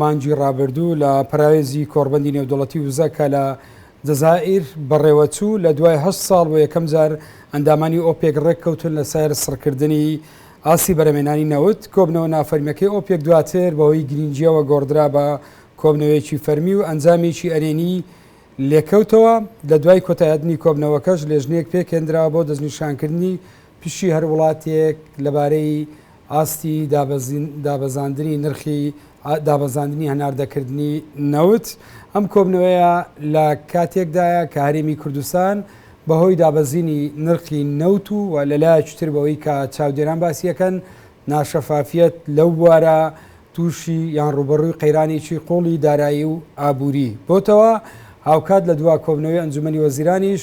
مانگی ڕابردوو لە پەراوێزی کۆڕبەندی نێودەوڵەتی وزە کە لە جەزائیر بەڕێوەچوو لە دوای هەشت ساڵ بۆ یەکەم جار ئەندامانی ئۆپێک ڕێککەوتن لەسەر سڕکردنی ئاستی بەرەمێنانی نەوت کۆبنەوە نافەرمیەکەی ئۆپێک دواتر بەهۆی گرنگیەوە گۆڕدرا بە کۆبنەوەیەکی فەرمی و ئەنجامێکی ئەرێنی لێکەوتەوە لە دوای کۆتایهتنی کۆبنەوەکەش لێژنەیەک پێکهێندرا بۆ دەستنیشانکردنی پشی هەر وڵاتێک لەبارەی ئاستی دابەزاندنی نرخی دابەزاندنی هەناردەکردنی نەوت، ئەم کۆبنەوەیە لە کاتێکدایە کە هەرێمی کوردستان بەهۆی دابەزینی نرخی نەوت و و لەلایەکی تر بەوەی کە چاودێران باسیەکەن ناشەفافیەت لەو بوارە تووشی یان ڕووبەڕووی قەیرانێکی قوڵی دارایی و ئابووری بۆتەوە، هاوکات لە دوا کۆبنەوەی ئەنجومەنی وەزیرانیش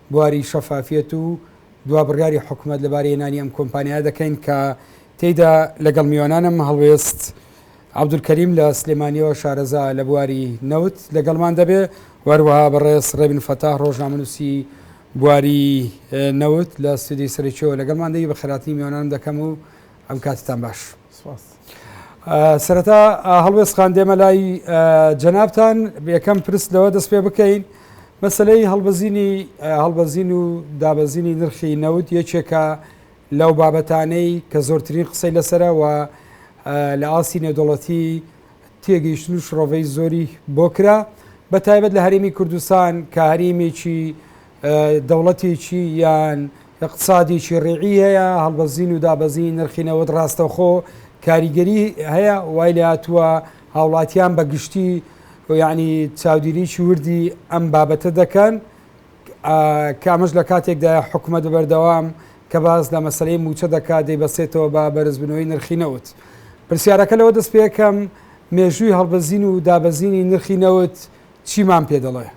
بواری شەفافیەت و دوا بڕیاری حکومەت لەبارەی هێنانی ئەم کۆمپانیایە دەکەین کە تێیدا لەگەڵ میوانانم هەڵوێست عەبدولکەریم لە سلێمانیەوە شارەزا لە بواری نەوت لەگەڵمان دەبێ و هەروەها بەڕێز ڕێبن فەتاح ڕۆژنامەنووسی بواری نەوت لە ستودیۆی سەرەکیەوە لەگەڵمان دەبی بە خێراتنی میوانانم دەکەم و ئەم کاتتان باش. سپاس. سەرەتا هەڵوێستخان دێمە لای جەنابتان یەکەم پرس لەوە دەست پێ بکەین مەسلەی هەڵبەزینی هەڵبەزین و دابەزینی نرخی نەوت یەکێکە لەو بابەتانەی کە زۆرترین قسەی لەسەرەوە لە ئاستی نێودەڵەتی تێگەیشتن و شڕۆڤەی زۆری بۆ کرا بە تایبەت لە هەرێمی کوردستان کە هەرێمێکی دەوڵەتێکی یان ئقتسادێکی ڕێعی هەیە هەڵبەزین و دابەزین نرخی نەوەت ڕاستەخۆ کاریگەری هەیە وای لە هاتووە هاوڵاتیان بە گشتی یعنی چاودێریی وردی ئەم بابەتە دەکەن کامەش لە کاتێکدا حکوومەت بەردەوام کە باز لە مەسلەی موچە دەکات دەیبەسێتەوە بە بەرزبنەوەی نرخی نەوت پرسیارەکە لەوە دەست پێکەم مێژووی هەڵبەزین و دابەزینی نرخی نەوت چیمان پێ دەڵێ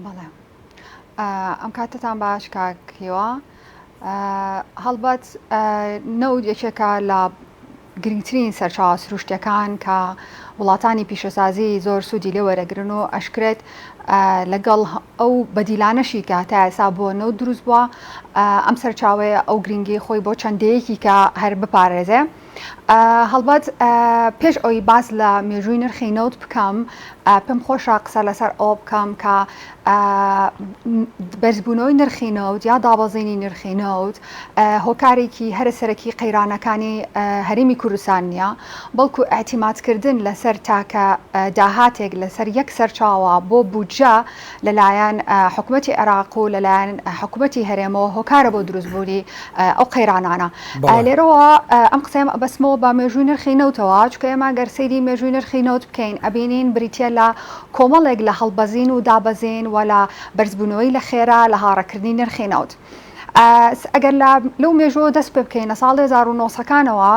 بەڵێ ئەم کاتتان باش کاک هیوا هەڵبەت نەوت یەکێکە لە گرنگترین سەرچاوە سروشتەکان کە وڵاتانی پیشەسازی زۆر سوودی لێ وەرەگرن و ئەشکرێت لەگەڵ ئەو بەدیلانەشی کە تا ئێسا بۆ نەوت دروست بووە ئەم سەرچاوەیە ئەو گرنگی خۆی بۆ چەندەیەکی کە هەر بپارێزێ. هەڵبەت پێش ئەوەی باس لە مێژووی نرخی نەوت بکەم پێم خۆشە قسە لەسەر ئەوە بکەم کە بەرزبوونەوەی نرخی نەوت یا دابەزینی نرخی نەوت هۆکارێکی هەرە سەرەکی قەیرانەکانی هەرمی کوردستان نییە بەڵکو ئاعتیماتکردن لەسەر تاکە داهاتێک لەسەر یەک سەرچاوە بۆ بودجە لەلایەن حکومەتی عێراق و لەلایەن حکومەتی هەرێمەوە هۆکارە بۆ دروستبوونی ئەو قەیرانانە لێرەوە ئەم قسەم ئەبەسمەوە بە مێژووی نرخی نەوتەوە چکە ئێمە گەر سەیری مێژووی نرخی نەوت بکەین ئەبینین بریتە لە کۆمەڵێک لە هەڵبەزین و دابەزین و لە بەرزبوونەوەی لە خێرا لە هاڕەکردنی نرخی نەوت. ئەگەر لە لەو مێژوەوە دەست پێ بکەین لە ساڵ هەزار و نۆ سەد کانەوە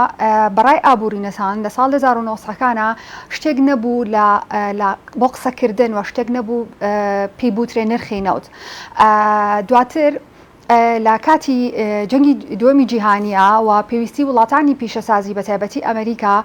بەڕای ئابوورینەسان لە ساڵ هەزار و نۆ سەد کانە شتێک نەبوو لە بۆ قسەکردن وە شتێک نەبوو پێی بوترێ نرخی نەوت دواتر لە کاتی جەنگی دووەمی جیهانیە و پێویستی وڵاتانی پیشەسازی بە تایبەتی ئەمریکا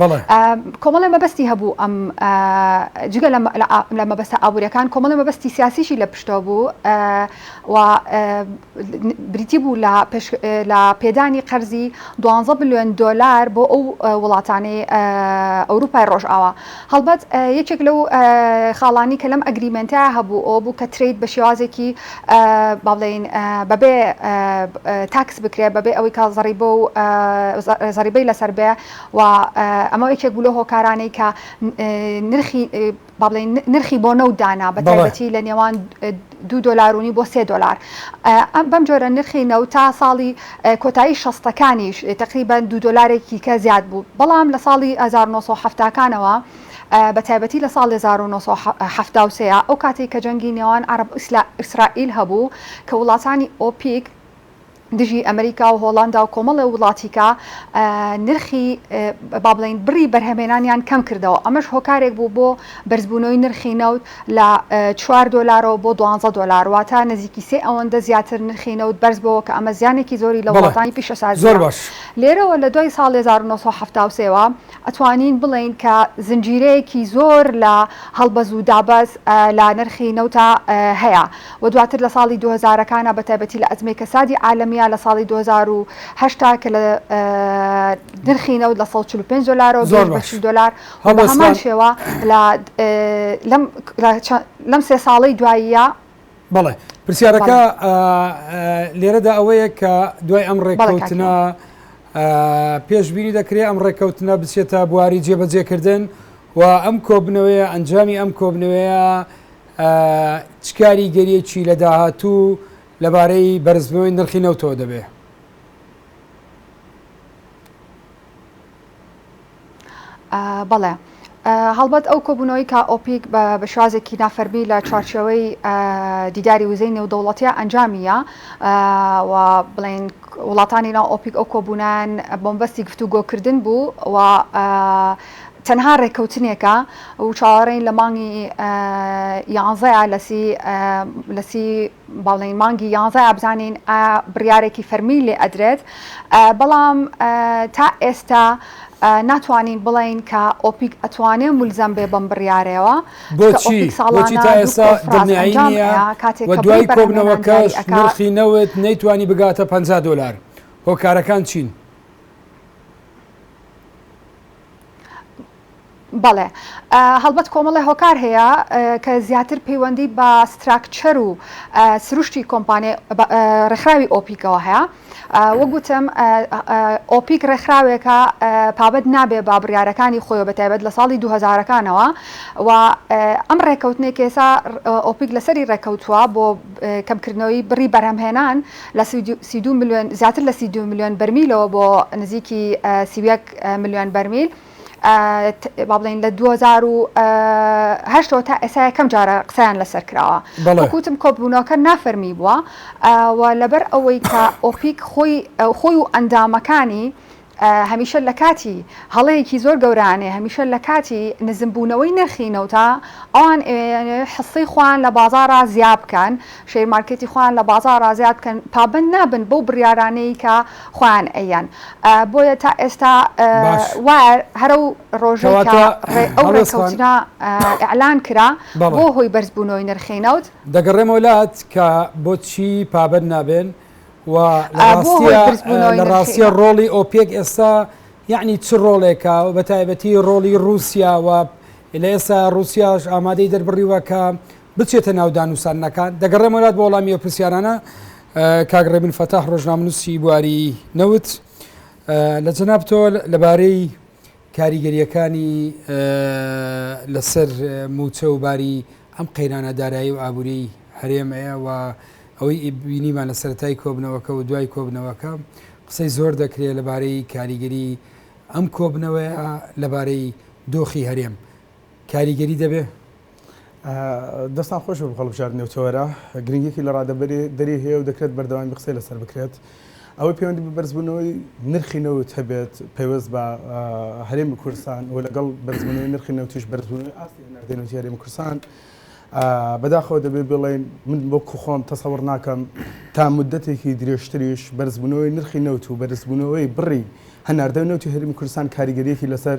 بەڵێ. کۆمەڵێ مەبەستی هەبوو ئەم جگە لە مەبەستە ئابووریەکان کۆمەڵێ مەبەستی سیاسیشی لە پشتەوە بوو و بریتی بوو لە پێدانی قەرزی دوانزە بلیۆن دۆلار بۆ ئەو وڵاتانەی ئەوروپای ڕۆژئاوا هەڵبەت یەکێک لەو خاڵانی کە لەم ئەگریمێنتە هەبوو ئەوە بوو کە ترەید بە شێوازێکی با بڵێین بەبێ تاکس بکرێ بەبێ ئەوەی کە زەڕیبە و زەڕیبەی لەسەر بێ و ئەمە یەکێک بوو لەو هۆکارانەی کە نرخی با بڵێین نرخی بۆ نەوت دانا بە بەڵێ. تایبەتی لە نێوان اه، دوو دۆلار و نیو بۆ سێ دۆلار اه، ئەم بەم جۆرە نرخی نەوت تا ساڵی اه، کۆتایی شەستەکانیش اه، تەقریبەن دوو دۆلارێکی کە زیاد بوو بەڵام لە ساڵی هەزار و نۆ سەد و حەفتا کانەوە اه، بە تایبەتی لە ساڵی هەزار و نۆ سەد و حەفتا و سێ ئەو کاتەی کە جەنگی نێوان عەرەب و ئیسلا ئیسرائیل هەبوو کە وڵاتانی ئۆپیک دژی ئەمریکا و هۆڵاندا و کۆمەڵێ وڵاتیکە نرخی با بڵێین بڕی بەرهەمێنانیان کەم کردەوە ئەمەش هۆکارێک بوو بۆ بەرزبوونەوەی نرخی نەوت لە چوار دۆلارەوە بۆ دوانزە دۆلار واتە نزیکی سێ ئەوەندە زیاتر نرخی نەوت بەرز بۆ کە ئەمە زیانێکی زۆری لە وڵاتانی پیشەسازی زۆر باش لێرەوە لە دوای ساڵ 1970 سێوە ئەتوانین بڵێین کە زنجیرەیەکی زۆر لە هەڵبەز و دابەز لە نرخی نەوتا هەیە و دواتر لە ساڵی دوو هەزارەکانا بە تایبەتی لە ئەزمەی کەسادی عالەمیە لە ساڵی دوو هەزار و هەشت کە لە نرخی نەوت لە سەد و چل و پێنج دۆلارەوە گەیشت بە چل دۆلار و بە هەمان شێوە لە لەم سێ ساڵەی دواییە بەڵێ پرسیارەکە لێرەدا ئەوەیە کە دوای ئەم ڕێککەوتنە پێشببینی دەکرێت ئەم ڕێککەوتنە بچێتە بواری جێبەجێکردن و ئەم کۆبنەوەیە ئەنجامی ئەم کۆبنەوەیە چکاری گەریەکی لە داهاتوو لەبارەی بەرزبووی نرخی نەوتەوە دەبێت بەڵێ هەڵبەت ئەو کۆبوونەوەی کە ئۆپیک بە بەشازێکی نافەرمی لە چوارچەوەی دیداری وزەی نێودەوڵەتە ئەنجامیە بڵین وڵاتانی ناو ئۆپیک ئەو کۆبوونان بۆمبەستی گفتوگۆکردن بوو و تەنها ڕێککەوتنێکە و چاوەڕێین لە مانگی یانزەیە لەسی لەسی بەڵی مانگی یانزە ئابزانین ئا بڕیارێکی فەرمی لێ ئەدرێت ئە بەڵام ئە تا ئێستا ئە ناتوانین بڵێین کە ئۆپیک ئەتوانێ مولزەم بێ بەم بڕیارەوە چکە بۆچی ئۆپیک بۆچی ساڵانە تا دوو ئێسا کۆنفراس دڵنیایی ئەنجام نییە ئەیا کاتێ و کە بڕی دوای بەرهەمێنان دیاری کۆبنەوەکەش ئەکا نرخی نەوت نەیتوانی بگاتە پەنجا دۆلار هۆکارەکان چین؟ بەڵێ هەڵبەت کۆمەڵێ هۆکار هەیە کە زیاتر پەیوەندی بە ستراکچەر و سروشتی کۆمپانیای ڕێکخراوی ئۆپیکەوە هەیە وەگوتم ئۆپیک ڕێکخراوێکە پابەت نابێ با بڕارەکانی خۆی بەتایبەت لە ساڵی 2000ەکانەوە و ئەم ڕێککەوتنێک کێسا ئۆپیک لەسەری ڕێککەوتووە بۆ کەمکردنەوەی بڕی بەرهەمهێنان لە سی میلیۆن زیاتر لە سی میلیۆن بەرمیلەوە بۆ نزیکی سی میلیۆن بەرمیل بابلین لە دوزار و هەشتەوە تا ئێسا یەکەم جارە قسەیان لەسەر کراوە بەڵکوتم کۆبوونەوەکە نافەرمی بووە و لەبەر ئەوەی کە ئۆپیک خۆی خۆی و ئەندامەکانی هەمیشە لە کاتی هەڵەیەکی زۆر گەورانێ هەمیشە لە کاتی نزمبوونەوەی نرخی نەوتا ئەوان حسەی خوان لە بازارا زیاب بکەن شەیرمارکێتی خوان لە بازارا زیاد بکەن پابند نابن بەو بڕارانەی کە خۆیان ئەییەن بۆیە تا ئێستا باش وایە هەرەو ڕۆژەی کە کەواتە ڕێ ئەو هەڵۆێس خان ڕێککەوتنە ئیعلان کرا بەڵێ. بۆ هۆی بەرز بوونەوەی نرخی نەوت. دەگەڕێمەوە لات کە بۆ چی پابەند نابێن و لە بۆ هۆی ڕاستیە برز بوونەوەی لە نرخی ڕاستیە نە. ڕۆڵی ئۆپێک ئێستا یەعنی چ ڕۆڵێکە و بە تایبەتی ڕۆڵی ڕووسیا و لە ئێستا ڕووسیاش ئامادەی دەربڕیوە کە بچێتە ناو دانووساننەکان؟ دەگەڕێمەوە لات بۆ وەڵامی ئەو پرسیارانە. کاک ڕێبن فەتاح ڕۆژنامەنووسی بواری نەوت لە جەنابتەوە لەبارەی کاریگەریەکانی لەسەر موچە و باری ئەم قەیرانە دارایی و ئابووری هەرێمەیە و ئەوەی بینیمان لە سەرای کۆبنەوەکە و دوای کۆبنەوەکە قسەی زۆر دەکرێت لەبارەی کاریگەری ئەم کۆبنەوەی لەبارەی دۆخی هەرێم کاریگەری دەبێ دەستان خۆش بێت بۆ هەڵبژاردنی ئەو تەوەرە، گرنگیەکی لە ڕادەبەری دەری هەیە و دەکرێت بەردەوامی قسەی لەسەر بکرێت. ئەوەی پەیوەندی بە بەرزبوونەوەی نرخی نەوت هەبێت پەیوەست بە هەرێمی کوردستان و لەگەڵ بەرزبوونەوەی نرخی نەوتیش بەرزبوونەوەی ئاستی هەناردەی نەوتی هەرێمی کوردستان بەداخەوە دەبێ بڵێن من بۆ کوخۆم تەسەوڕ ناکەم تا مدەتێکی درێژتریش بەرزبوونەوەی نرخی نەوت و بەرزبوونەوەی بڕی هەناردەی نەوتی هەرمی کوردستان کاریگەریەکی لەسەر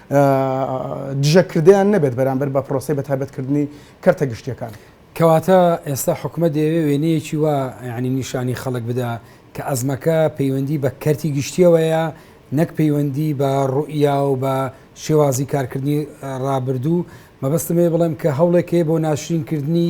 دژەکردەیان نەبێت بەرامبەر بە پرۆسەی بەتایبەتکردنی کەرتە گشتییەکان. کەواتە ئێستا حکومەت دەیەوێت وێنەیەکی وا یانی نیشانی خەڵک بدا کە ئەزمەکە پەیوەندی بە کەرتی گشتییەوەیە نەک پەیوەندی بە ڕوئیا و بە شێوازی کارکردنی ڕابردوو، مەبەستم ئەوەیە بڵێم کە هەوڵێک هەیە بۆ ناشرینکردنی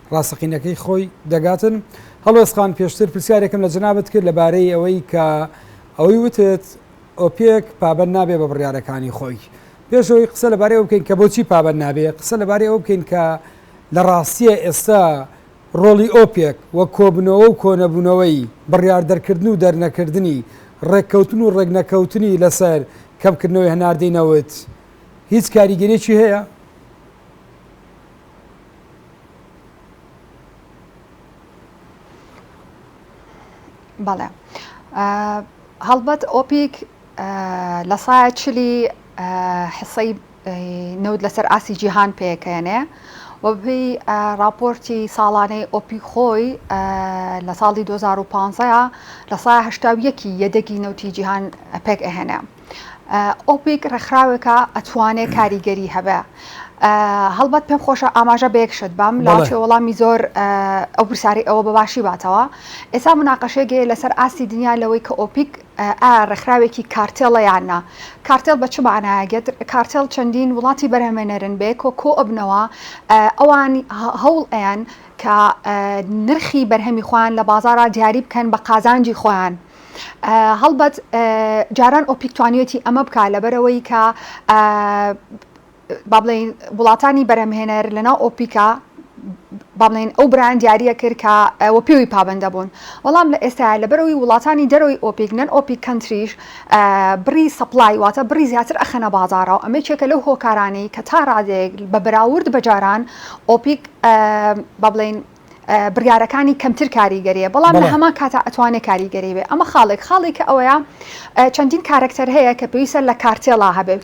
ڕاستەقینەکەی خۆی دەگاتن هەڵۆێسخان پێشتر پرسیارێکم لە جنابەت کرد لەبارەی ئەوەی کە ئەوەی وتت ئۆپێک پابەن نابێ بە بڕیارەکانی خۆی پێشەوەی قسە لەبارەی ئەو بکەین کە بۆچی پابەن نابێ قسە لەبارەی ئەو بکەین کە لە ڕاستیە ئێستا ڕۆڵی ئۆپێک و کۆبنەوە و کۆنەبوونەوەی بڕیار دەرکردن و دەرنەکردنی ڕێککەوتن و ڕێکنەکەوتنی لەسەر کەمکردنەوەی هەناردەی نەوت هیچ کاریگەریی هەیە بەڵێ هەڵبەت ئۆپیک لە سایە چلی حسەی نەوت لەسەر ئاسی جیهان پێکەێنێ وەبی راپۆرتی ساڵانەی ئۆپی خۆی لە ساڵی 2015 لە سایهشتاویەکی یەدەگی نەوتی جیهان پێک ئەهێنێ. ئۆپیک ڕێکخراوێکە ئەتوانێ کاریگەری هەبێ هەڵبەت پێم خۆشە ئاماژە بە یەکشت بەم لاچێ وەڵامی زۆر ئەو پرسیاری ئەوە بەباشی باتەوە ئێستا مناقەشێگەیە لەسەر ئاستی دنیا لەوەی کە ئۆپیک ئا ڕێکخراوێکی کارتێڵە یاننا کارتێڵ بە چ مانایەگەت کارتێڵ چەندین وڵاتی بەرهمێنەرن بێ کۆ کۆ ئەبنەوە ئەوان هەوڵ ئەیان کە نرخی بەرهەمی خۆیان لە بازارا دیاری بکەن بە قازانجی خۆیان هەڵبەت جاران ئۆپیک توانیەتی ئەمە بکە لەبەرەوەی کە با بڵین وڵاتانی بەرەمهێنەر لەناو ئۆپیکا بابلین ئەو بران دیارە کرد کە ئەوە پێوی پابندە بوون وەڵام لە ئێستا لەبەرەوەی وڵاتانی دەرەوەی ئۆپیک نەن ئۆپیک کەنتریش بڕی سەپلای واتە بڕی زیاتر ئەخەنە بازارە و ئەمە چێکە لەو هۆکارانی کە تا ڕادێک بە بەراورد بەجاران ئۆپیک بابلین بڕیارەکانی کەمتر کاریگەریە بەڵام لە هەما کاتا ئەتوانێت کاریگەری بێ ئەمە خاڵێک خاڵی کە ئەوەیە چەندین کارکتەر هەیە کە پێویستە لە کارتێڵا هەبێ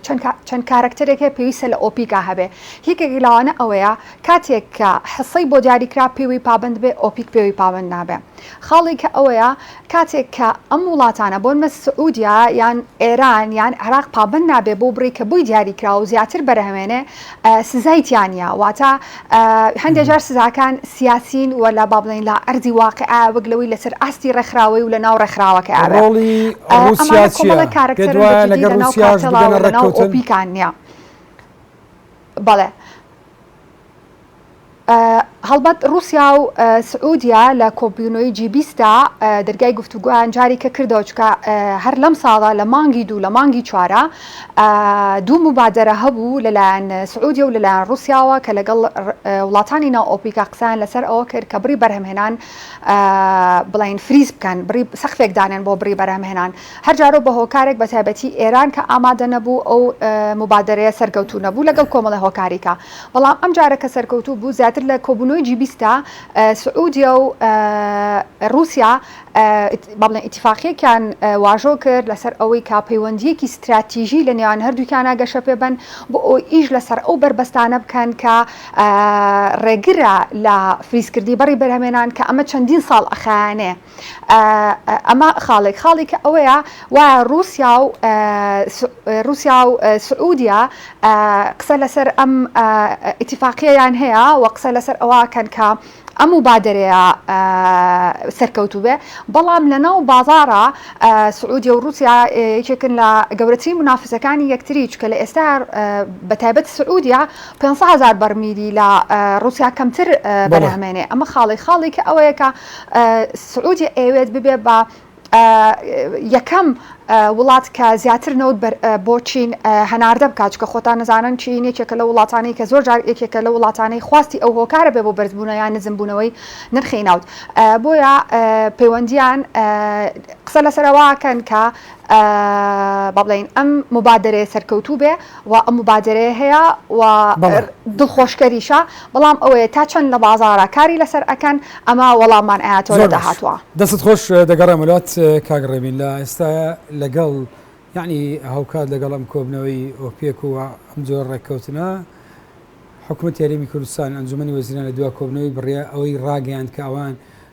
چەند کارکتەرێک هەیە پێویستە لە ئۆپیکا هەبێ یەکێک لاوانە ئەوەیە کاتێک کە حەسەی بۆ دیاریکرا پێوی پابند بێ ئۆپیک پێوی پابند نابێ خاڵی کە ئەوەیە کاتێک کە ئەم وڵاتانە بۆنمە سعودیە یان ئێران یان عێراق پابەند نابێ بۆ بڕی کە بۆی دیاری کراوە و زیاتر بەرهەمێنێ سزای تیانە واتە هەندێک جار سزاکان سیاسین و لە بابلین لە ئەردی واقعە وەک لەوەی لەسەر ئاستی ڕێکخراوەی و لە ناو ڕێکخراوەکە ڕۆڵی کارەکتەرەکان نیە بەڵێ هەڵبەت ڕوسیا و سعودیە لە کۆبوونەوەی جی بیست دا دەرگای گفتوگۆیان جاری کە کردەوە چکە هەر لەم ساڵە لە مانگی دوو لە مانگی چوارە دوو مبادرە هەبوو لەلایەن سعودیە و لەلایەن ڕوسیاوە کە لەگەڵ وڵاتانی ناو ئۆپیکا قسەیان لەسەر ئەوە کرد کە بڕی بەرهەمهێنان بڵین فریز بکەن بڕی سەخفێک دانێن بۆ بڕی بەرهەمهێنان هەر جارەو بە هۆکارێک بە تایبەتی ئێران کە ئامادە نەبوو ئەو موبادەرەیە سەرکەوتوو نەبوو لەگەڵ کۆمەڵە هۆکاری کە بەڵام ئەم جارە کە سەرکەوتوو بوو زیاتر لە کۆبوونەوەی جی بیست دا سعودیە و رووسیا با بڵێن ئیتیفاقیەکیان واژۆ کرد لەسەر ئەوەی کە پەیوەندیەکی ستراتیژی لە نێوان هەردووکیانە گەشە پێ بەن بۆ ئەو ئیش لەسەر ئەو بەربەستانە بکەن کە ڕێگرە لە فریزکردنی بەڕی بەرهەمێنان کە ئەمە چەندین ساڵ ئەخایانێ. ئەمە خاڵێک خاڵێکە ئەوەیە و رووسیا و رووسیا و سعودیا قسە لەسەر ئەم ئیتیفاقیەیان هەیە و قسە لەسەر ئەوکەن کە ئەم و بادرەیە سەرکەوتوو بێ بەڵام لەناو بازارە سعودیە و رووسیا یەکێکن لە گەورەترین منافسەکانی یەکتری چکە لە ئێستا بەتابەت سعودیا 500هزار بەرمیری لە رووسیا کەمتر بەرهمێنێ ئەمە خاڵی خاڵی کە ئەوەیەکە سعودیە ئەیەوێت ببێت بە یەکەم وڵات کە زیاتر نەوت بۆ چین هەناردە بکات چکە خۆتان نزانن چین یەکێکە لە وڵاتانی کە زۆر جار یەکێکە لە وڵاتانەی خواستی ئەو هۆکارە بێ بۆ بەرزبوونە یان نزمبوونەوەی نرخی ناوت بۆیە پەیوەندیان قسە لەسەرواکەن کە با بڵێین ئەم موبادەرەیە سەرکەوتوو بێ و ئەم موبادەرەیە هەیە و دڵخۆشکەریشە بەڵام ئەوەیە تا چەند لە بازارە کاری لەسەر ئەکەن ئەمە وەڵاممان ئاەتەوە لە داهاتوە دەست خۆش دەگەڕێ ملات کاگڕێبین لە ئێستا لەگەڵ یعنی هاوکات لەگەڵ ئەم کۆبنەوەی ئۆپێک و ئەم جۆر ڕێککەوتنە حکوومەت یاریمی کوردستان ئەنجومی وەزیران لە دوا کۆبنەوەی بڕە ئەوەی ڕاگەیان کە ئەوان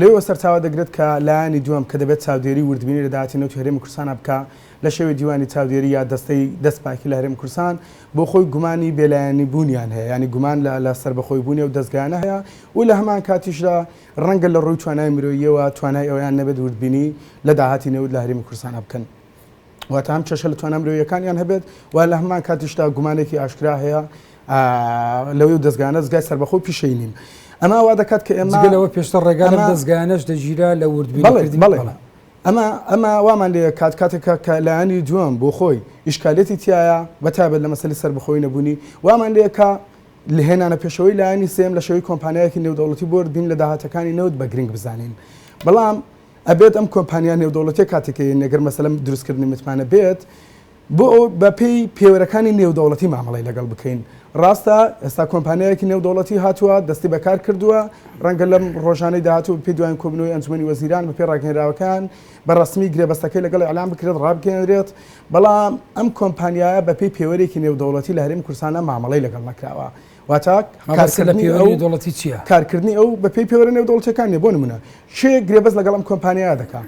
لێیەوە سەرچاوە دەگرێت کە لایەنی دووەم کە دەبێت چاودێری وردبینی لە داهاتی نەوتی هەرێمی کوردستان بکا لە شێوەی دیوانی چاودێری یا دەستەی دەست پاکی لە هەرێمی کوردستان بۆ خۆی گومانی بێلایەنی بوونیان هەیە یانی گومان لە لە سەربەخۆی بوونی ئەو دەزگایانە هەیە و لە هەمان کاتیشدا ڕەنگە لە ڕووی توانای مرۆییەوە توانای ئەوەیان نەبێت وردبینی لە داهاتی نەوت لە هەرێمی کوردستان بکەن. واتە ئەم کێشە لە توانا مرۆییەکانیان هەبێت و لە هەمان کاتیشدا گومانێکی ئاشکرا هەیە لەوەی و دەستگانە دەستگای سەربەخۆ پیشەی نین ئەما وا دەکات کە ئێمەەوە پێشتە ڕێگانە دەستگانەش دەگیرا لە وردبیڵێت بڵێ ئەمە ئەمە وامان لێ کات کاتێکە کە لایانی دووەم بۆ خۆی ئیشکالێتی تایە بە تابێت لە مەسلی سەر بخۆی نەبوونی وامان لێکە لە هێنانە پێشەوەی لایانی سێم لە شەوی کۆمپانیایەکی نێودەوڵەتی بردین لە داهاتەکانی نەوت بە گرنگ بزانین بەڵام ئەبێت ئەم کۆمپانیا نێودەوڵەتیە کاتێک کە یەنی لەگەر مەسەلە دروستکردنی متمانە بێت بۆ ئەو بە پێی پێوەرەکانی نێودەوڵەتی مامەڵەی لەگەڵ بکەین ڕاستە ئێستا کۆمپانیایەکی نێودەوڵەتی هاتووە دەستی بەکار کردووە ڕەنگە لەم ڕۆژانەی داهاتوو پێ دوایین کۆبنەوەی ئەنجومی وەزیران بە پێ ڕاگەنراوەکان بە ڕسمی گرێبەستەکەی لەگەڵ ئەلان بکرێت ڕابگەێنرێت بەڵام ئەم کۆمپانیایە بە پێی پێوەرێکی نێودەوڵەتی لە هەرێمی کورسانە مامەڵەی لەگەڵ نەکراوە واتە کارکردنی ئەو بە پێی پێوەرە نێودەوڵەتیەکان نیە بۆ نمونە کێ گرێبەست لەگەڵ ئەم کۆمپانیا دەکا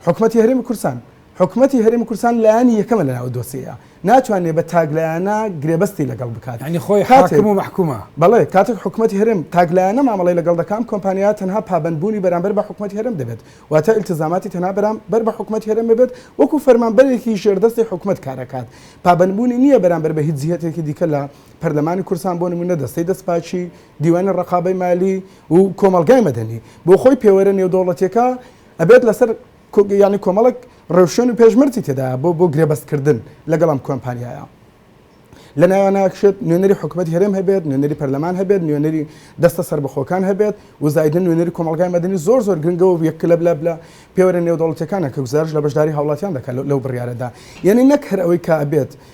حکومەتی هەرێمی کورسان حکومەتی هەرێمی کورسان لایانی یەکەمە لە ناو دۆسەیە ناتوانێت بە تاگلایەنە گرێبەستی لەگەڵ بکات ینی خۆی حاکم و محکومە بەڵێ کاتێک حکومەتی هەرم تاگلایەنە مامەڵی لەگەڵ دەکەم کۆمپانیا تەنها پابندبوونی بەرامبەر بە حکومەت هەرم دەبێت واتە التزاماتی تەنها بەرام بەر بە حکومەت هەرم بێت وەکو فەرمانبەرێکی ژێردەستی حکومت کارەکات پابندبوونی نییە بەرامبەر بە هیچ جیهتێکی دیکە لە پەرلەمانی کوردستان بۆ نموونە دەستەی دەستپاکی، دیوانی ڕەقابەی مالی و کۆمەڵگای مەدەنی بۆ خۆی پێوەرە نێودەوڵەتیەکە ئەبێت لەسەر یانی کۆمەڵێک ڕێوشوێن و پێشمەرجی تێدایە بۆ بۆ گرێبەست کردن لەگەڵ ئەم کۆمپانیایە. لە ناویانە ئەکشێت نوێنەری حکومەتی هەرێم هەبێت، نوێنەری پەرلەمان هەبێت، نوێنەری دەستە سەربەخۆکان هەبێت و زایدن نوێنەری کۆمەڵگای مەدەنی زۆر زۆر گرنگە و یەک لە لە لە پێوەرە نێودەوڵەتیەکانە کە گوزارش لە بەشداری هاوڵاتیان دەکات لەو بڕیارەدا یعنی نەک هەر ئەوەی کە ئەبێت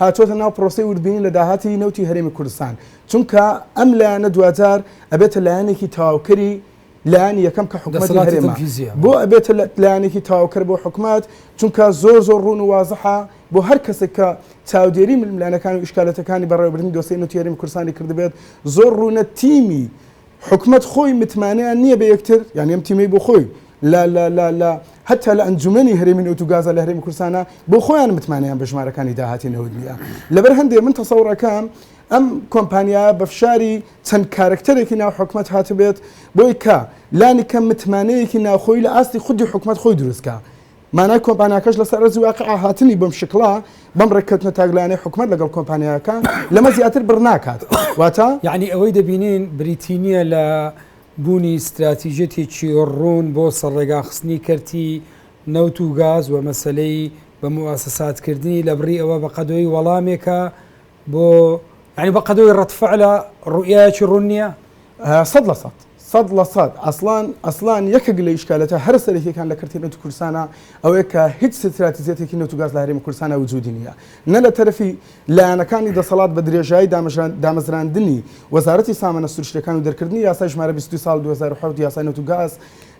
هاتووەتە ناو پرۆسەی وردبینی لە داهاتی نەوتی هەرێمی کوردستان، چونکە ئەم لایەنە دواجار ئەبێتە لایەنێکی تەواوکەری لایەنی یەکەم کە حکومەتی هەرێمە، بۆ ئەبێتە لایەنێکی تەواوکەر بۆ حکومەت؟ چونکە زۆر زۆر ڕوون و وازحە بۆ هەر کەسێک کە چاودێری ململانێکان و ئیشکالەتەکانی بەڕێوەبردنی دۆسێی نەوتی هەرێمی کوردستانی کردبێت، زۆر ڕوونە تیمی حکومەت خۆی متمانەیان نیە بە یەکتر یانی ئەم تیمەی بۆ خۆی لە لە لە لە هەتا لە ئەنجومەنی هەرێمی نەوت و گازە لە هەرێمی کوردستانە بۆ خۆیان متمانەیان بە ژمارەکانی داهاتی نەوت نیە لەبەر هەندێ من تەسەوڕەکەم ئەم کۆمپانیا بە فشاری چەند کارکتەرێکی ناو حکومەت هاتبێت بۆی کە لانی کەم متمانەیەکی ناوخۆی لە ئاستی خودی حکومەت خۆی دروستکە مانای کۆمپانیاکەش لەسەر ئەرزی واقع هاتنی بەم شکڵە، بەم ڕێککەوتنە تاکلایەنەی حکومەت لەگەڵ کۆمپانیاکە، لەمە زیاتر بڕ ناکات. واتە. یەعنی ئەوەی دەبینین بریتی نییە لە بوونی ستراتیجیەتێکی ڕوون بۆ سەرڕێگاخستنی کەرتی نەوت و گاز و مەسەلەی بە موئەسەساتکردنی، لەبڕی ئەوە بەقەدۆی وەڵامێکە بۆ یانی بە قەدەوەی ڕەتفعلە ڕوئایەکی ڕوون نییە؟ سەد لە سەد سەد لە سەد ئەسڵان ئەسڵان یەکێک لە ئیشکالەتە هەرە سەرەکیەکان لە کەرتی نەوتی کوردستانە ئەوەیە کە هیچ ستراتیزیەتێکی نەوت و گاز لە هەرێمی کوردستانە وجودی نییە نە لە تەرەفی لایەنەکانی دەسەڵات بە درێژایی دامەژران دامەزراندنی وەزارەتی سامانە سروشتیەکان و دەرکردنی یاسای ژمارە بیست و دوو ساڵ دوو هەزار و حەوت یاسای نەوت و گاز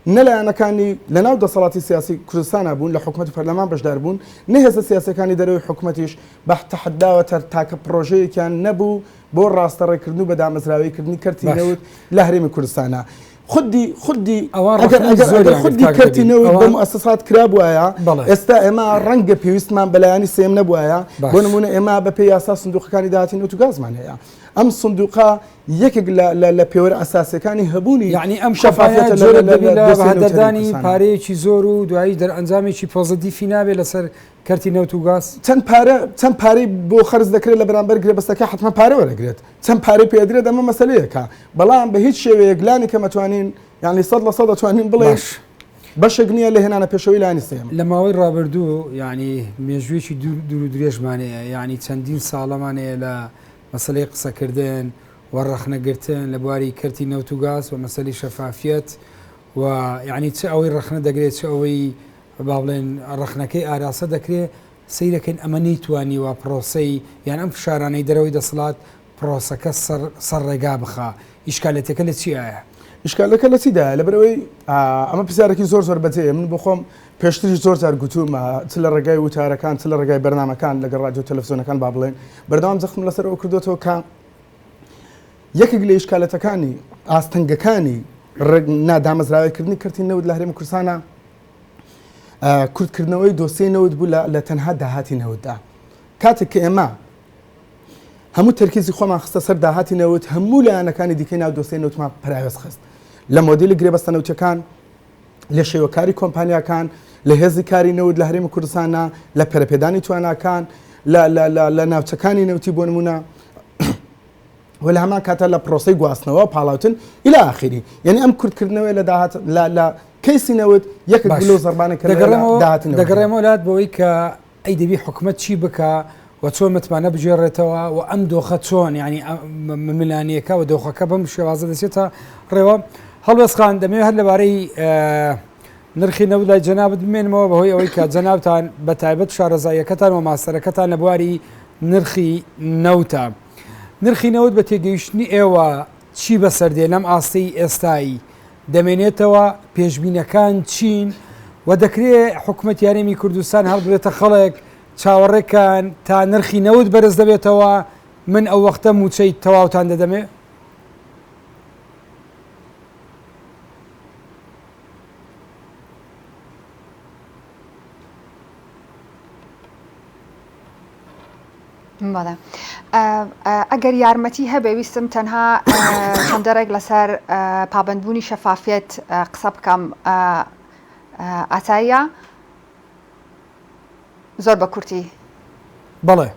نە لایەنەکانی لەناو دەسەڵاتی سیاسی کوردستانە بوون لە حکومەت و پەرلەمان بەشدار بوون نە هێزە سیاسیەکانی دەرەوەی حکومەتیش بەح تەحەداوە تەر تاکە پڕۆژەیەکیان نەبوو بۆ ڕاستە ڕێکردن و بە دامەزراوەی کردنی کەرتی باش نەوت لە هەرێمی کوردستانا خودی خودی ئەوان ئەگەر ڕەخنەی ئەگەر ئەگەر زۆریان کرد خودی کاک کەرتی نەوید نەوت بە ئەوان موئەسەسات کرابوایە بەڵێ ئێستا ئێمە ڕەنگە پێویستمان بە لایەنی سێیەم نەبوایە بۆ باش. نموونە ئێمە بە پێی یاسا سندوقەکانی داهاتی نەوت و گازمان هەیە ئەم سندوقە یەکێک لە لە لە پێوەرە ئەساسیەکانی هەبوونی یەعنی ئەم کۆمپانیا شەفافیەتە لە جۆرێک لە لە دەبی لە لە دۆسێی نەوتی هەرێمی بەهەدەردانی کوردستانا. پارەیەکی زۆر و دوایی دەرئەنجامێکی پۆزەدیفی نابێ لەسەر کەرتی نەوت و گاز؟ چەند پارە چەند پارەی بۆ خەرج دەکرێت لە بەرامبەر گرێبەستەکە حەتمەن پارە وەرەگرێت چەند پارەی پێ ئەدرێت ئەمە مەسەلەیەکە بەڵام بە هیچ شێوەیەک لانی کەم ئەتوانین یانی سەد لە سەد ئەتوانین بڵێین باش بەشێک نییە لە هێنانە پێشەوەی لانی سێیەم. لە ماوەی ڕابردوو یانی مێژوویەکی دوور دوور و درێژمان هەیە یانی چەندین ساڵەمان هەیە لە مەسەلەی قسەکردن و ڕەخنەگرتن لە بواری کەرتی نەوت و گاز و مەسەلی شەفافیەت و یانی چ ئەوەی ڕەخنە دەگرێت چ ئەوەی با بڵێن ڕەخنەکەی ئاراستە دەکرێ، سەیر دەکەین ئەمە نەیتوانیوە پڕۆسەی یان ئەم فشارانەی دەرەوەی دەسڵات پڕۆسەکە سەر ڕێگا بخا، ئیشکالەتەکە لە چیایە؟ ئیشکالەکە لە چیدایە؟ لەبەر ئەوەی ئەمە پرسیارێکی زۆر زۆر بەجێیە، من بۆ خۆم پێشتریش زۆر جار گوتوومە چ لە ڕێگای وتارەکان چ لە ڕێگای بەرنامەکان لەگەڵ ڕادیۆ تەلەفزیۆنەکان با بڵێن بەردەوام جەختم لەسەرەوە کردوێتەوە کە یەکێک لە ئیشکالەتەکانی ئاستەنگەکانی نادامەزراوەیکردنی کەرتی نەوت لە هەرێمی کوردستانە، کورتکردنەوەی دۆسیەی نەوت بوو لە تەنها داهاتی نەوتدا کاتێک کە ئێمە هەموو تەرکیزی خۆمان خستە سەر داهاتی نەوت هەموو لایەنەکانی دیکەی ناو دۆسیەی نەوتمان پراوێز خست لە مۆدیلی گرێبەستە نەوتەکان لە شێوەکاری کۆمپانیاکان لە هێزی کاری نەوت لە هەرێمی کوردستانە لە پەرپێدانی تواناکان لە ناوچەکانی نەوتی بۆ نمونە و لە هەمان کاتە لە پرۆسەی گواستنەوە پاڵاوتن الى اخره یعنی ئەم کورتکردنەوەی لە داهات لە لە کەیسی نەوت یەکێک باش. لەو زەربانە کە لە دەگەڕێمەوە داهاتی نەوت دەگەڕێمەوە لات بەوەی کە ئەی دەبی حکومەت چی بکا و چۆن متمانە بگێڕێتەوە و ئەم دۆخە چۆن ینی ملانیەکە و دۆخەکە بەم شێوازە دەچێتە ڕێوە هەڵوێستخان دەمێ هەر لەبارەی اه، نرخی نەوت لای جەنابت بمێنمەوە بەهۆی ئەوەی کە جەنابتان بە تایبەت شارەزاییەکەتان و ماستەرەکەتان لە بواری نرخی نەوتە نرخی نەوت بە تێگەیشتنی ئێوە چی بەسەردێ لەم ئاستەی ئێستایی دەمێنێتەوە پێشبینەکان چین و دەکرێ حکومەت یارێمی کوردستان هەڵبرێتە خەڵک چاوەڕێکان تا نرخی نەوت بەرز دەبێتەوە من ئەو وەختە موچەی تەواوتان دەدەمێ بەڵێ ئەگەر یارمەتی هەبێ ویستم تەنها چەندەڕێک لەسەر پابندبوونی شەفافیت قسە بکەم ئاتایە زۆر بە کورتی بەڵێ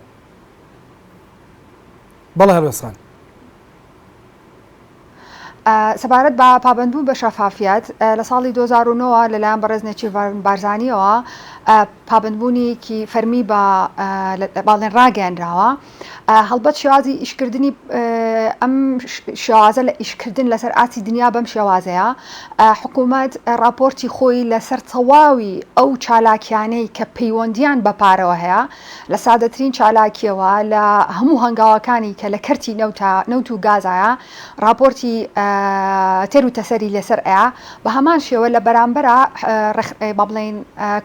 بەڵێ هەرسان سەبارەت بە پابەندبوون بە شەفافیەت، لە ساڵی دوو هەزار و نۆ وە لەلایەن بەڕێز نێچیرڤان بارزانییەوە پابەندبوونێکی فەرمی بە باڵێن ڕاگەیەنراوە. هەڵبەت شێوازی ئیشکردنی ئەم شێوازە لە ئیشکردن لەسەر ئاستی دنیا بەم شێوازەیە. حکوومەت ڕاپۆرتی خۆی لەسەر تەواوی ئەو چالاکییانەی کە پەیوەندییان بە پارەوە هەیە، لە سادەترین چالاکییەوە لە هەموو هەنگاوەکانی کە لە کەرتی نەوتە نەوت و گازایە ڕاپۆرتی تێر و تەسەری لەسەر ئەیا بە هەمان شێوە لە بەرامبەرا با بڵێین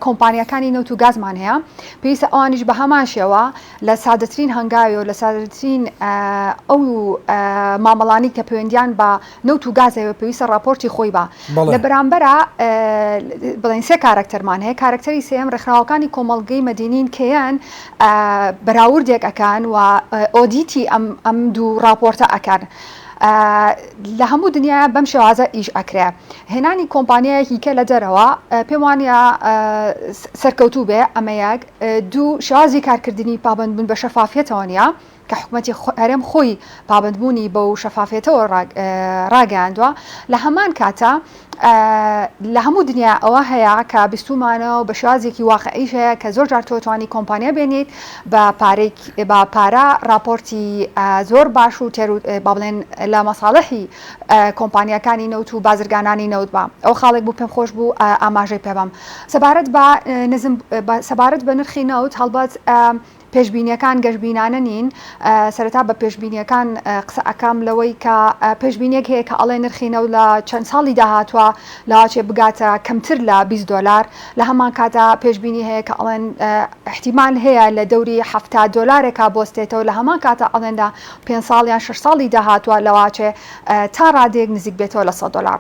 کۆمپانیەکانی نەوت و گازمان هەیە پێویستە ئەوانیش بە هەمان شێوە لە سادەترین هەنگاوی و لە سادەترین ئەو مامەڵانی کە پەیوەندیان بە نەوت و گاز ئەوێ پێویستە ڕاپۆرتی خۆی با لە بەرامبەرا بڵێن سێ کارەکتەرمان هەیە کارەکتەری سێم ڕێکخراوەکانی کۆمەڵگەی مەدینین کێیان بەراوردێک ئەکان و ئۆدیتی ئەم ئەم دوو ڕاپۆرتە ئەکان. لە هەموو دنیا بەم شێوازە ئیش ئەکرێ هێنانی کۆمپانیایەکی کە لە دەرەوە پێم وانە سەرکەوتوو بێ ئەمە یەک دوو شازی کارکردنی پابندبوون بە شەفافیتەوە نیە کە حکومەتی هەرێم خۆی پابەندبوونی بەو شەفافیەتەوە ڕاگەیاندوە، لە هەمان کاتە لە هەموو دنیا ئەوە هەیە کە بیستومانەوە بە شێوازێکی واقعیش هەیە کە زۆرجار تۆ توانی کۆمپانیا بێنیت بە بە پارە ڕاپۆرتی زۆر باش و تێرو با بڵێن لە مەساڵحی کۆمپانیاکانی نەوت و بازرگانانی نەوت بە ئەو خاڵێک بوو پێم خۆش بوو ئاماژەی پێبەم سەبارەت بە نزم سەبارەت بە نرخی نەوت هەڵبەت پێشبینیەکان گەشبینانە نین، سەرەتا بە پێشبینیەکان قسە ئەکەم لەوەی کە پێشبینیەک هەیە کە ئەڵێ نرخی نەوت لە چەند ساڵی داهاتوە لاچێ بگاتە کەمتر لە بیست دۆلار لە هەمان کاتا پێشبینی هەیە کە ئەڵێن ئیحتیمال هەیە لە دەوری حەفتا دۆلارێکا بۆستێتەوە لە هەمان کاتا ئەڵێن لە پێنج ساڵ یان شەش ساڵی داهاتوە لاچێ تا ڕادەیەک نزیک بێتەوە لە سەد دۆلار.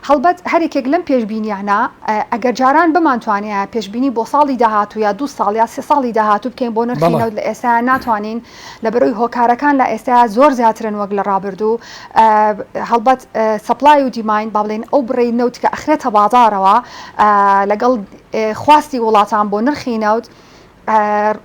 هەڵبەت هەر یەکێک لەم پێشبینیانە ئەگەر جاران بمانتوانیایە پێشبینی بۆ ساڵی داهاتوو یا دوو ساڵ یا سێ ساڵی داهاتوو بکەین بۆ نرخی نەوت لە ئێستایا ناتوانین لە بەرۆی هۆکارەکان لە ئێستایا زۆر زیاترن وەک لە ڕابردوو هەڵبەت سەپلای و دیماین با بڵێین ئەو بڕەی نەوت کە ئەخرێتە بازاڕەوە لەگەڵ خواستی وڵاتان بۆ نرخی نەوت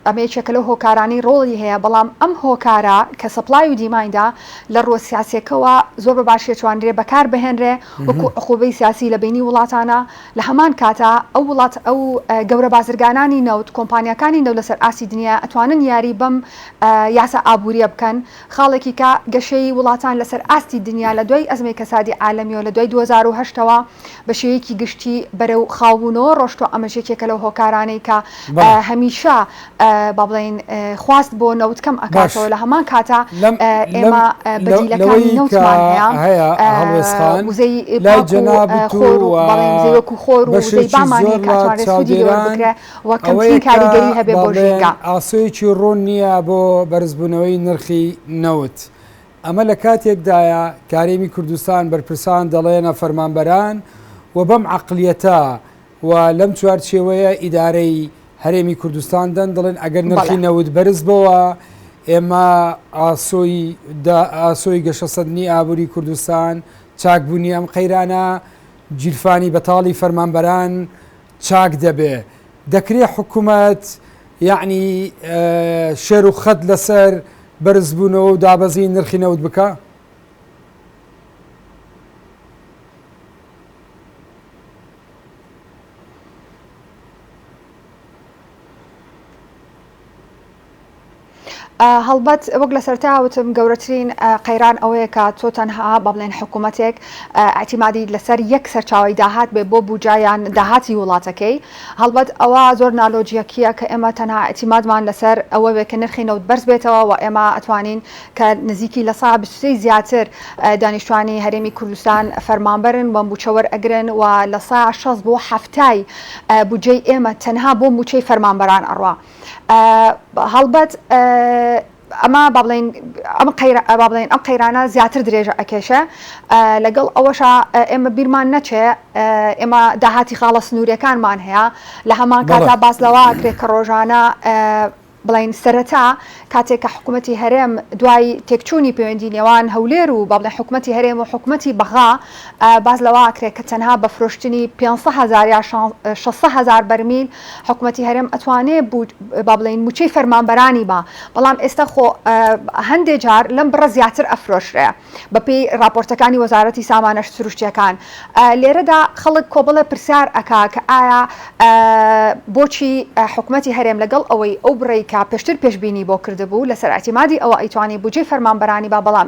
ئەمە یەکێکە لەو هۆکارانەی ڕۆڵی هەیە، بەڵام ئەم هۆکارە کە سەپڵای و دیمایندە لە ڕووە سیاسییەکەوە زۆر بە باشی ئەتوانرێ بەکار بهێنرێ وەکوو عقوبەی سیاسی لە بینی وڵاتانا، لە هەمان کاتا ئەو وڵات ئەو گەورە بازرگانانی نەوت، کۆمپانیاکانی نەوت لەسەر ئاستی دنیا ئەتوانن یاری بەم یاسا ئابوورییە بکەن، خاڵێکی کە گەشەی وڵاتان لەسەر ئاستی دنیا لە دوای ئەزمەی کەسادی عالەمییەوە لە دوای دوو هەزار و هەشت ەوە، بە شێوەیەکی گشتی بەرەو خاوبوونەوە ڕۆشتوە ئەمەش یەکێکە لەو هۆکارانەی کە هەمیشە با بڵین خواست بۆ نەوت کەم ئەکاتەوە لە هەمان کاتە ئێمە بەدیلەکانی نەوتمان هەیە وزەی خۆر و وەکو خۆر و وزەی بامانەیە کە ئەتوانرێت سوودی لێوە بکرێ و کەمترین کاریگەری هەبێ بۆ ژینگە. ئاسۆیەکی ڕوون نییە بۆ بەرزبوونەوەی نرخی نەوت ئەمە لە کاتێکدایە کە هەرێمی کوردستان بەرپرسان دەڵێنە فەرمانبەران و بەم عەقڵیەتە و لەم چوارچێوەیە ئیدارەی هەرێمی کوردستان دەن دەڵێن ئەگەر نرخی نەوت بەرز بەوە ئێمە ئاسۆی گەشەسەندنی ئابووری کوردستان چاکبوونی ئەم قەیرانە جیرفانی بەتاڵی فەرمانبەران چاک دەبێ دەکرێ حکوومەت یعنی شێر و خەت لەسەر بەرزبوونەوە و دابەزینی نرخی نەوت بکا. هەڵبەت وەک لە سەرتا وتم گەورەترین قەیران ئەوەیە کە تۆ تەنها بە بڵێن حکوومەتێک ئەتیمادی لەسەر یەک سەرچاوی داهات بێ بۆ بوجایان داهاتی وڵاتەکەی هەڵبەت ئەوە زۆر نالۆجیەکیە کە ئێمە تەنها ئیعتیمادمان لەسەر ئەوە بێت کە نرخی نەوت بەرز بێتەوە و ئێمە ئەتوانین کە نزیکی لە سەدا بیست و سێ ی زیاتر دانیشتوانی هەرێمی کوردستان فەرمانبەرن و موچە وەرئەگرن و لە سەدا شەست بۆ حەفتا ی بودجەی ئێمە تەنها بۆ موچەی فەرمانبەران ئەڕوا هەڵبەت ئەمە با بڵێین ئەم قەیرا با بڵێین ئەم قەیرانە زیاتر درێژە ئەکێشێ. لەگەڵ ئەوەشا ئێمە بیرمان نەچێ ئێمە داهاتی خاڵە سنووریەکانمان هەیە، لە هەمان بەڵێ. کاتدا باس لەوە ئەکرێ کە ڕۆژانە بڵێین سەرەتا کاتێک کە حکوومەتی هەرێم دوای تێکچوونی پەیوەندی نێوان هەولێر و با بڵێین حکوومەتی هەرێم و حکوومەتی بەغا باس لەوە ئەکرێ کە تەنها بە فرۆشتنی پێنج سەد هەزار یا شان شەست سەد هەزار بەرمیل حکومەتی هەرێم ئەتوانێ با بڵێین موچەی فەرمانبەرانی با بەڵام ئێستا خۆ هەندێ جار لەم بڕە زیاتر ئەفرۆشرێ بەپی راپۆرتەکانی وەزارەتی سامانە سروشتیەکان لێرەدا خەڵک کۆبڵە پرسیار ئەکا کە ئایا بۆچی حکومەتی هەرێم لەگەڵ ئەوەی ئەو بڕی کە پێشتر پێشببینی بۆ کردبوو لەسەر ئەتیمادی ئەوە ئەیتوانی بجێ فەرمانبەرانی با بەڵام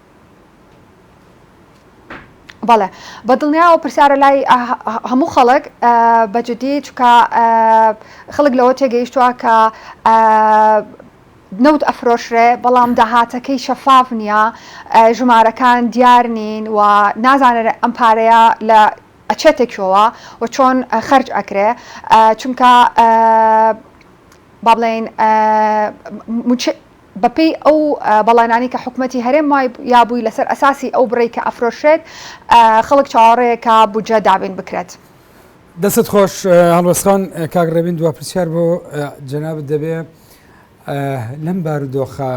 بەڵێ بەدڵنیایەوە پرسیارە لای هەموو خەڵک بەجددی چکە خەڵک لەوە تێگەیشتووە کە نەوت ئەفرۆشرێ بەڵام داهاتەکەی شەفاف نییە ژمارەکان دیار نین و نازانێت ئەم پارەیە لە ئەچێتێکەوە و چۆن خرج ئەکرێ چونکە با بڵێن بەپێی ئەو بەڵێنانەی کە حکومەتی هەرێم وای یا بووی لەسەر ئەساسی ئەو بڕەی کە ئەفرۆشرێت خەڵک چاوەڕێیە کە بودجە دابین بکرێت. دەستت خۆش هەڵۆسخان کاک ڕێبین دوا پرسیار بۆ جەنابت دەبێ لەم بارودۆخە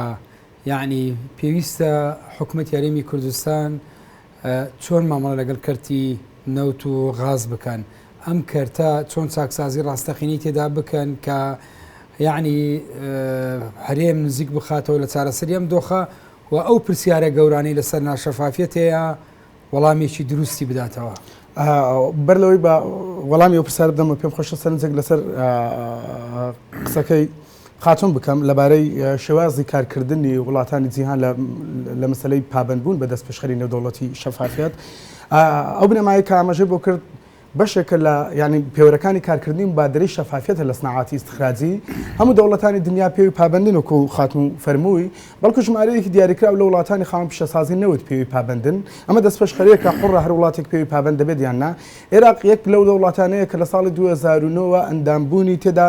یعنی پێویستە حکومەت یاریمی کوردستان چۆن مامەڵە لەگەڵ کەرتی نەوت و غاز بکەن، ئەم کەرتە چۆن چاکسازی ڕاستەقینەی تێدا بکەن کە یعنی هەرێم نزیک بخاتەوە لە چارەسەری ئەم دۆخە و ئەو پرسیارە گەورانەی لەسەر ناشەفافیەت هەیە وەڵامێکی دروستی بداتەوە. بەر لەوەی بە وەڵامی ئەو پرسیارە بدەمەوە پێم خۆشە سەرنجێک لەسەر قسەکەی خاتون بکەم لەبارەی شێوازی کارکردنی وڵاتانی جیهان لە لە مەسەلەی پابەندبوون بە دەستپێشخەری نێودەوڵەتی شەفافیەت ئەو بنەمایە کە ئاماژەی بۆ کرد بەشێکە لە یعنی پێوەرەکانی کارکردنی مبادرەی شەفافیەتە لە سناعاتی استخراجی هەموو دەوڵەتانی دنیا پێوی پابندن وکو خاتون فەرمووی بەڵکو ژمارەیەکی دیاریکراو لە وڵاتانی خاوەن پیشەسازی نەوت پێوی پابندن ئەمە دەستپێشخەریەکە حڕە هەر وڵاتێک پێوی پابند دەبێت یان نا عێراق یەک لەو دەوڵاتانەیە کە لە ساڵی 2009 ئەندامبوونی تێدا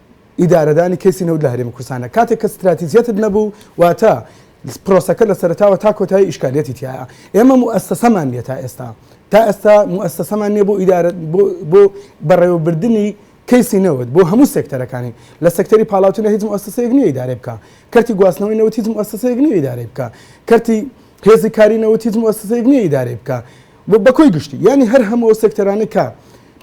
ئیدارەدانی کەیسی نەوت لە هەرێمی کوردستانە کاتێک کە ستراتیجیەتت نەبوو واتە پرۆسەکە لە سەرەتاوە تا کۆتایی ئیشکالیەتی تایە ئێمە موئەسەسەمان نیە تا ئێستا تا ئێستا موئەسەسەمان نیە بۆ ئیدارە بۆ بەڕێوەبردننی کەیسی نەوت بۆ هەموو سێکتەرەکانی لە سەکتەری پاڵاوتنە هیچ موئەسەسەیەک نیە ئیدارە بکە کەرتی گواستنەوەی نەوت هیچ موئەسەسەیەک نیە ئیدارە بکە کەرتی هێزی کاری نەوت هیچ موئەسەسەیەک نیە ئیدارە بکە بە کۆی گشتی یانی هەر هەموو ئەو سێکتەرانە کە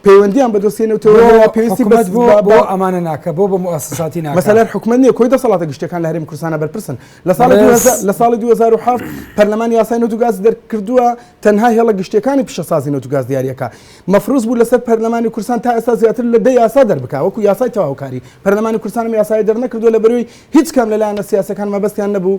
پەیوەندیان بە دۆسیە نەوتەوە بۆ هەیە پێویستی حکومەت بۆ بەس- بۆ بۆ- ئەمانە ناکە بۆ بە موسساتی ناکە مەسەلەر حکومەت نییە کۆی دەسەڵاتە گشتەکان لە هەرێمی کوردستانە بەرپرسن لە ساڵی بەس- 2000 لە ساڵی 2007 پەرلەمان یاسای نەوت و گاز دەرکردووە تەنها هێڵە گشتیەکانی پیشەسازی نەوت و گاز دیارەکە مەفروز بوو لەسەر پەرلەمانی کوردستان تا ئێستا زیاتر لە دە یاسا دەربکا وەکو یاسای تەواوکاری پەرلەمانی کوردستانم یاسای دەرنەکردووە لە بەروی هیچ کام لە لایەنە سیاسەکان مەبەستیان نەبوو